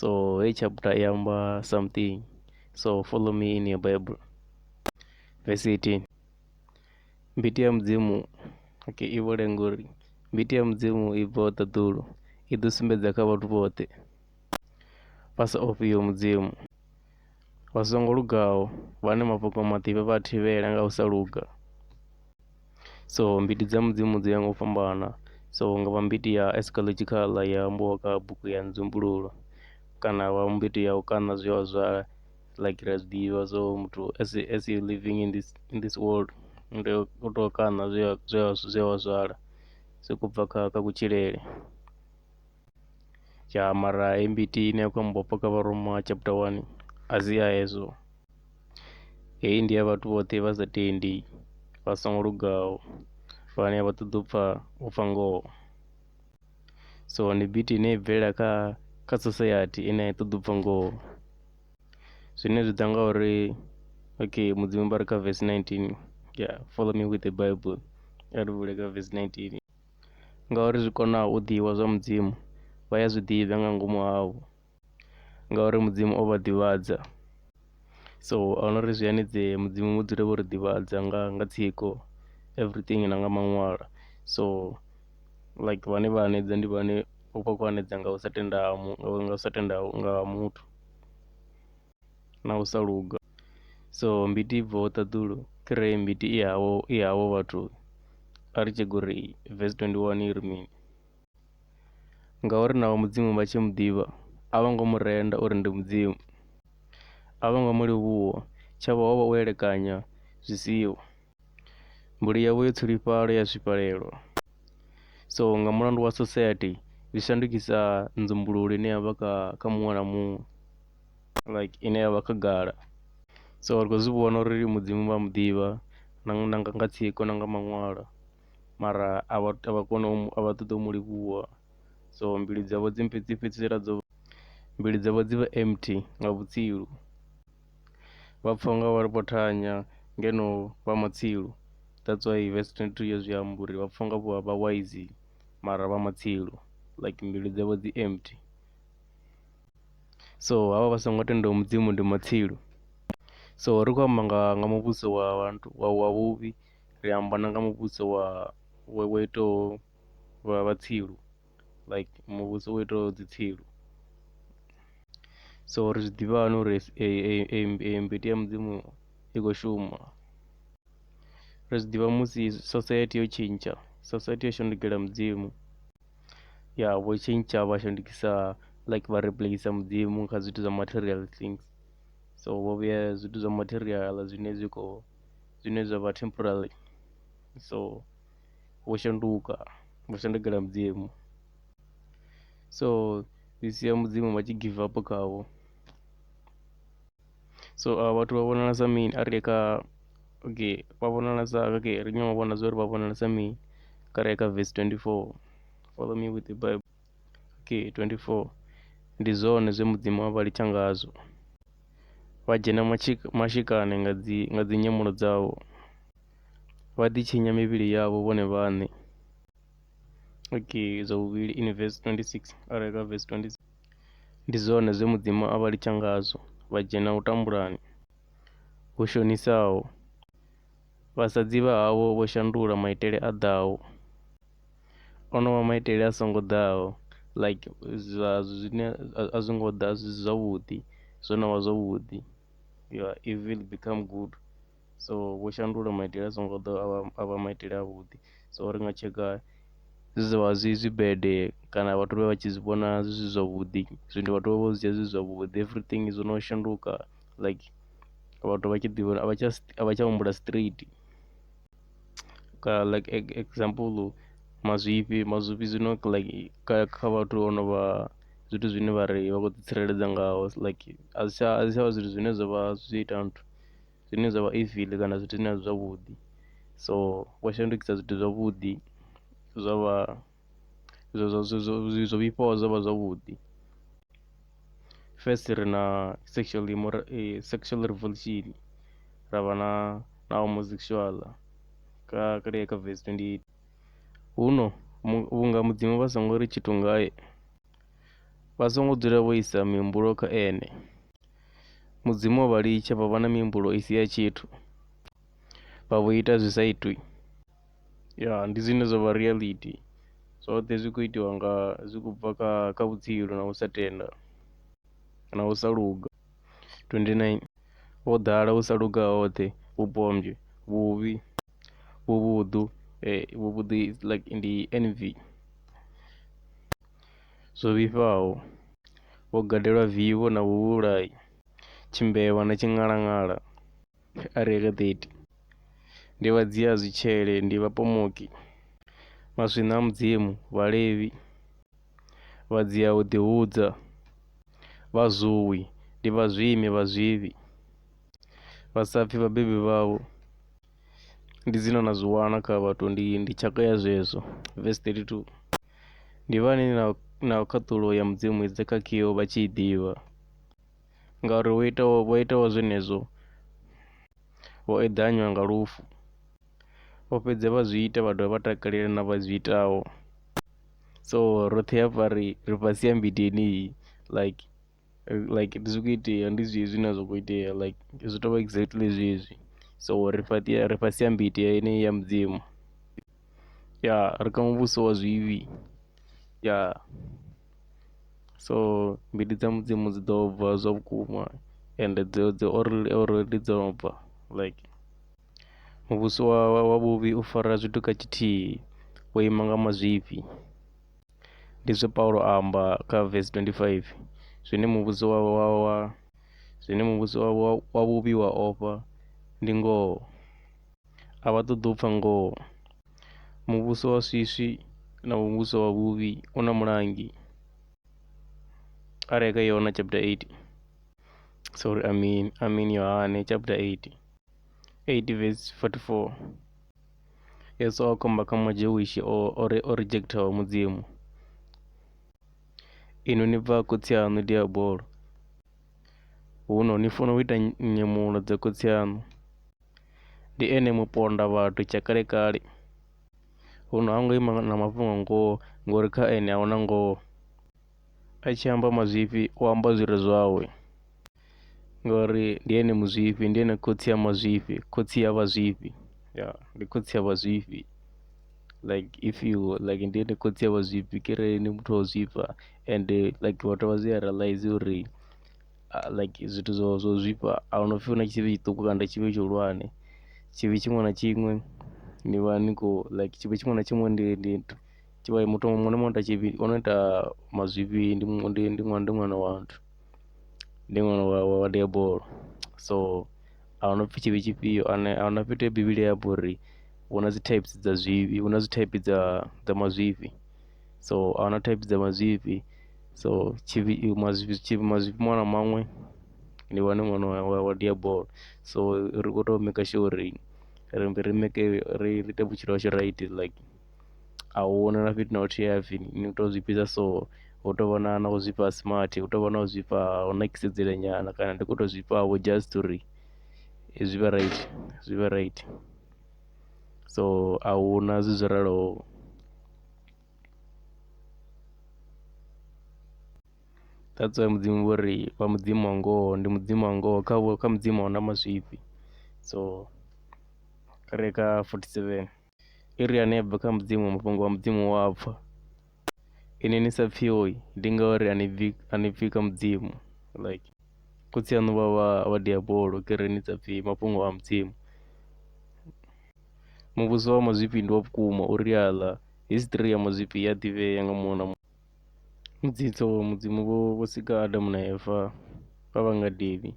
so hei chapter i amba something so follow me in your bible verse 18 mbiti ya mudzimu okay i vhole ngori mbiti ya mudzimu i bvaho ṱaḓulu i ḓo sumbedza kha vhathu vhoṱhe vha sa ofhiyo mudzimu vha songo lugaho vhane mafhungo maḓivhe vha thivhela nga u sa luga so mbiti dza mudzimu dzi ya nga u fhambana so hu nga vha mbiti ya astrological ya ambiwa kha bugu ya nzumbululo kana vha mbiti ya u kaṋa zwiḽiwa zwa like ri a zwi ḓivha zwo uri muthu as a as a living in this in this world u tea u tou kaṋa zwe a zwe a zwe wa zwala zwi sokou bva kha kha kutshilele. Ya mara heyi mbiti ine ya khou ambiwa hafha kha vharuma chapter one a si ya hezwo. Hei ndi ya vhathu vhoṱhe vha sa tendi, vha songo lugaho vhane a vha ṱoḓi u pfha, u pfha ngoho. So ndi beat ine i bvelela kha kha sosaithi ine a i ṱoḓi u pfha ngoho. Zwine zwi ḓa nga uri okay Mudzimu vha ri kha verse 19, ya follow me with the bible, kha ri vule kha verse 19. Ngauri zwi konaho u ḓivha zwa Mudzimu vha ya zwi ḓivha nga ngomu havho. ngauri Mudzimu o vha ḓivhadza. So a hu na uri zwi hanedzee Mudzimu vho dzula vho ri ḓivhadza nga nga tsiko everything na nga maṅwalo. So like vhane vha hanedza ndi vhane vho vha vha khou hanedza nga u sa tenda ha mu, nga u sa tenda nga ha muthu na u sa luga. So mbiti i bvaho ṱaḓulu thi ri mbiti i havho, i havho vhathu a ri tshek uri verse twenty one i ri mini. Ngauri na vha Mudzimu vha tshi mu ḓivha, a vho ngo mu renda uri ndi Mudzimu. A vho ngo mu livhuwa, tshavho ho vha u elekanya zwi siho. Mbilu yavho yo tshilifhala ya zwifhalelwa. So nga mulandu wa society zwi shandukisa nzumbululo ine ya vha kha kha muṅwe na muṅwe like ine ya vha khagala. So ri khou zwi vhona uri Mudzimu vha mu ḓivha na nga nga nga tsiko na nga maṅwalo. mara a vha a vha koni u mu, a vha ṱoḓi u mu livhuwa so mbilu dzavho dzi mbo dzi fhedzisela dzo, mbilu dzavho dzi vha empty nga vhutsilu. Vha pfha u nga vha vho thanya ngeno vha matsilu. That's why verse 22 ya zwi amba uri vha pfha u nga vho vha wise mara vha matsilu like mbilu dzavho dzi empty. So havha vha songo tendaho Mudzimu ndi matsilu. So ri khou amba nga nga muvhuso wa vhathu wa wa vhuvhi. ri amba na nga muvhuso wa wa wa itaho wa vha tsilu like muvhuso wo itaho dzi tsilu so ri zwi ḓivha hani uri eyi mbiti ya mudzimu i khou shuma ri zwi ḓivha musi sosaithi yo tshintsha sosaithi yo shandukela mudzimu ya vho tshintsha vha shandukisa like vha replace mudzimu kha zwithu zwa material things so vho vhuya zwithu zwa material zwine zwi khou zwine zwa vha temporary so vho shanduka vho shandukela mudzimu so zwi sia mudzimu vha tshi give up khavho so a vhathu vha vhonala sa mini a ri kha okay vha vhonala sa okay ri nyanga u vhona zwa uri vha vhonala sa mini kha re kha verse 24 follow me with the bible. Key 24 Ndi zwone zwe Mudzimu a vha litsha ngazwo, vha dzhena matshi- mashikani nga dzi nga dzinyemulo dzavho, vha ḓitshinya mivhili yavho vhone vhaṋe. Key zwa vhuvhili in verse 26 arali kha verse 26 Ndi zwone zwe Mudzimu a vha litsha ngazwo, vha dzhena u tambulani hu shonisaho, vhasadzi vha havho vho shandula maitele a ḓaho. Onovha maitele a songo ḓaho like zwa zwine a zwi ngo ḓa zwi si zwavhuḓi zwo novha zwavhuḓi ya evil become good so vho shandula maitele a songo ḓaho a vha maitele a vhuḓi so ri nga tsheka zwi zwavha zwi zwibade kana vhathu vha vha tshi zwi vhona zwi si zwavhuḓi zwino vhathu vha vho zwi dzhia zwi zwavhuḓi everything zwo no shanduka like vhathu vha tshi ḓivha a vha tsha humbula straight. ka like example mazwifhi, mazwifhi zwino like kha kha vhathu vho no vha zwithu zwine vha ri vha khou ḓi tsireledza ngaho like a zwi tsha a zwi tsha vha zwithu zwine zwa vha zwi ita nthu, zwine zwa vha evil kana zwithu zwine a si zwavhuḓi so vho shandukisa zwithu zwavhuḓi zwa vha. zwo zwo zwo zwo vhifhaho zwo vha zwavhuḓi first ri na sexual imora sexual revolution ra vha na na homosexual kha kale kha verse twendi eight huno vhunga mudzimu vha songo ri tshithu ngae vha songo dzula vho isa mihumbulo kha ene mudzimu o vha litsha vha vha na mihumbulo i si ya tshithu vha vho ita zwi sa itwi Ya ndi zwine zwa vha reality zwoṱhe zwi kho itiwa nga zwi khou bva kha kha vhutshilo na u sa tenda na u sa luga 29 ho ḓala u sa luga hoṱhe vhupombwe, vhuvhi, vhuvhuḓu vhuvhuḓi is like ndi N_V zwo vhifhaho ho gadela vivho na vhuvhulayi, tshimbevha na tshiṅhalanghala. a re re 30. Ndi vha dzia zwitshele, ndi vhapomoki, maswina a Mudzimu, Vhalevi, vha dzia u ḓihudza, vhazwui, ndi vhazwimi, vhazwivhi, vha sa pfi vhabebi vhavho, ndi dzina na zwi wana kha vhathu, ndi, ndi tshaka ya zwezwo. Verse 32. Ndi vhani na, na khaṱulo ya Mudzimu i dze kha Kio vha tshi i ḓivha? ngauri vho itaho vho itaho zwenezwo vho eḓanywa nga lufu vho fhedza vha zwi ita vha dovha vha takalela na vha zwi itaho so roṱhe hafha ri ri fhasi ha mmbete yeneyi like like ndi zwi kho itea ndi zwezwi zwine zwa kho itea like zwi tovha exactly zwezwi so ri fhaṱi ri fhasi ha mmbete yeneyi ya mudzimu. ya ri kha muvhuso wa zwivhi ya so mbilu dza mudzimu dzi ḓo bva zwa vhukuma ende dzi dzi already dzo no bva like muvhuso wa wa vhuvhi u fara zwithu kha tshithihi wo ima nga mazwifhi ndi zwe Paulo a amba kha verse twendi faifi zwine muvhuso wa wa wa zwine muvhuso wa wa wa vhuvhi wa ofha ndi ngoho. a vha ṱoḓi u pfha ngoho. Muvhuso wa swiswi na muvhuso wa vhuvhi u na mulangi a re kha Yohana chapter 8 sorry I mean I mean Yohane chapter 8 8 verse 44 Yesu a khomba kha Majewishi o o re o rejectaho Mudzimu ino ni bva khotsi aṋu diabolo huno ni funa u ita nyemulo dza khotsi aṋu ndi ene muponda vhathu tsha kale kale huno ha ngo ima na mafhungo ngoho ngori kha ene a huna ngoho a tshi amba mazwifhi u amba zwi re zwawe ngori ndi ene muzwifhi ndi ene khotsi a mazwifhi khotsi a vha zwifhi ya ndi khotsi a vha zwifhi like if you like ndi ene khotsi a vha zwifhi kharali ndi muthu wa u zwifha ende like vhathu vha zwi a realizer uri. ah, like zwithu zwo zwo zwifha a hu no pfhi hu na tshivhi tshiṱuku kana tshivhi tshihulwane tshivhi tshiṅwe na tshiṅwe ni vha ni khou like tshivhi tshiṅwe na tshiṅwe ndi ndi tshi vha muthu muṅwe na muṅwe ita tshivhi o no ita mazwifhi ndi mu- ndi ndi ṅwana ndi ṅwana wa nthu ndi ṅwana wa wa wa diabolo so a hu no pfhi tshivhi tshifhio ane a hu na fhethu he bivhili ya amba uri hu na dzi types dza zwivhi hu na dzi type dza dza mazwifhi so a huna thaidzo dza mazwifhi so tshivhi mazwifhi tshivhi mazwifhi maṅwe na maṅwe ndi wane ṅwana wa wa dia ball so ri khou tou maker sure uri ri ri make ri ri ite vhutshilo hashu right like a hu na na fhethu na huthihi ha pfhi ni tea u zwi fhisa so hu tou vha na na u zwifha ha smart hu tou vha na u zwifha ha u nakisedzela nyana kana ndi khou tou zwifha vho just uri zwi vhe right zwi vhe right so a hu na zwithu zwo raloho. that's why mudzimu vho ri vha mudzimu wa ngoho ndi mudzimu wa ngoho kha vho kha mudzimu a huna mazwifhi so kha re kha 47 i ri ane a bva kha mudzimu mafhungo wa mudzimu wa pfha ine ni sa pfhioi ndi ngauri a ni bvi a ni pfhi kha mudzimu like khotsi aṋu vha vha vha diabolo ke re ni sa pfhi mafhungo a mudzimu Muvhuso wa mazwifhi ndi wa vhukuma, o ri aḽa. Hisiṱiri ya mazwifhi i a ḓivhea nga muṅwe na muṅwe. Mutsitso wa Mudzimu vho vho sika Adamu na Eva vha vha ngadeni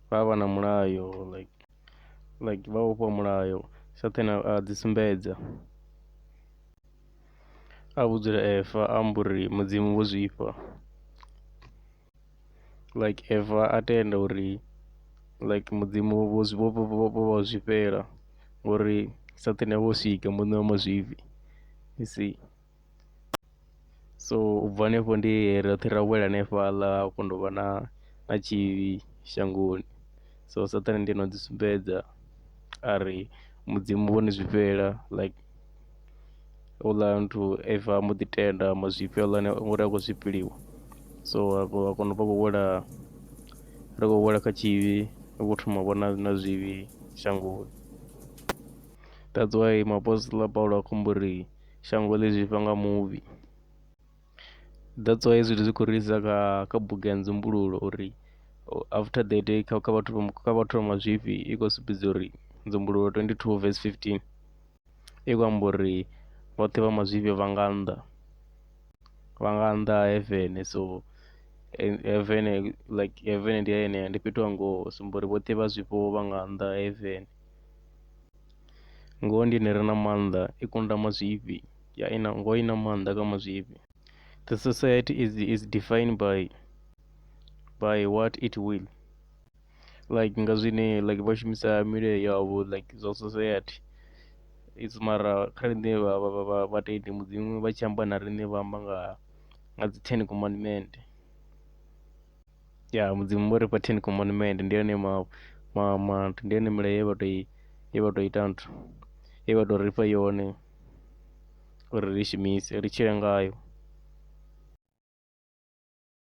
vha vha na mulayo like like vha vhofhiwa mulayo Saṱhane a a dzi sumbedza a vhudzula Eva a amba uri Mudzimu vho zwifha. like ever a tenda uri like mudzimu vho vho vho vho vha zwifhela ngori saṱhane avha o sika muṋe wa mazwifhi you see. So ubva hanefho ndi he roṱhe ra wela hanefhaḽa ha kondovha na na tshivhi shangoni so saṱhane ndi ene oḓi sumbedza ari mudzimu vhoni zwifhela like. houḽa muthu if a mbo ḓi tenda mazwifhi houḽa uri a khou zwifhiliwa so a kona u vha khou wela ri khou wela kha tshivhi ri khou thoma u vhona na zwivhi shangoni that's why muapostola Paulo a khou amba uri shango ḽi zwifha nga muvhi. That's why hezwi zwithu zwi khou ri isa kha kha bugu ya Nzumbululo uri after the day kha vhathu vha mazwifhi i khou sumbedza uri Nzumbululo twendi thuu vese fifitini. i khou amba uri vhoṱhe vha mazwifhi vha nga nnḓa, vha nga nnḓa ha heaven so heaven like heaven ndi ya yeneyo, ndi fhethu ha ngoho u sumba uri vhoṱhe vha zwifho vha nga nnḓa ha heaven. Ngoho ndi yone i re na maanḓa, i kunda mazwifhi, ya i na, ngoho i na maanḓa kha mazwifhi. The society is is defined by by what it will. like nga zwine like vha shumisa milayo yavho like zwa society it's mara kha riṋe vha vha vha vha vhatendi mudzimu vha tshi amba na riṋe vha amba nga nga dzi ten commandment ya mudzimu vho rifha ten commandment ndi one ma ma ma ndi yone milayo ye vha toi ye vha tou ita nthu ye vha tou rifha yone uri ri shumise ri tshile ngayo.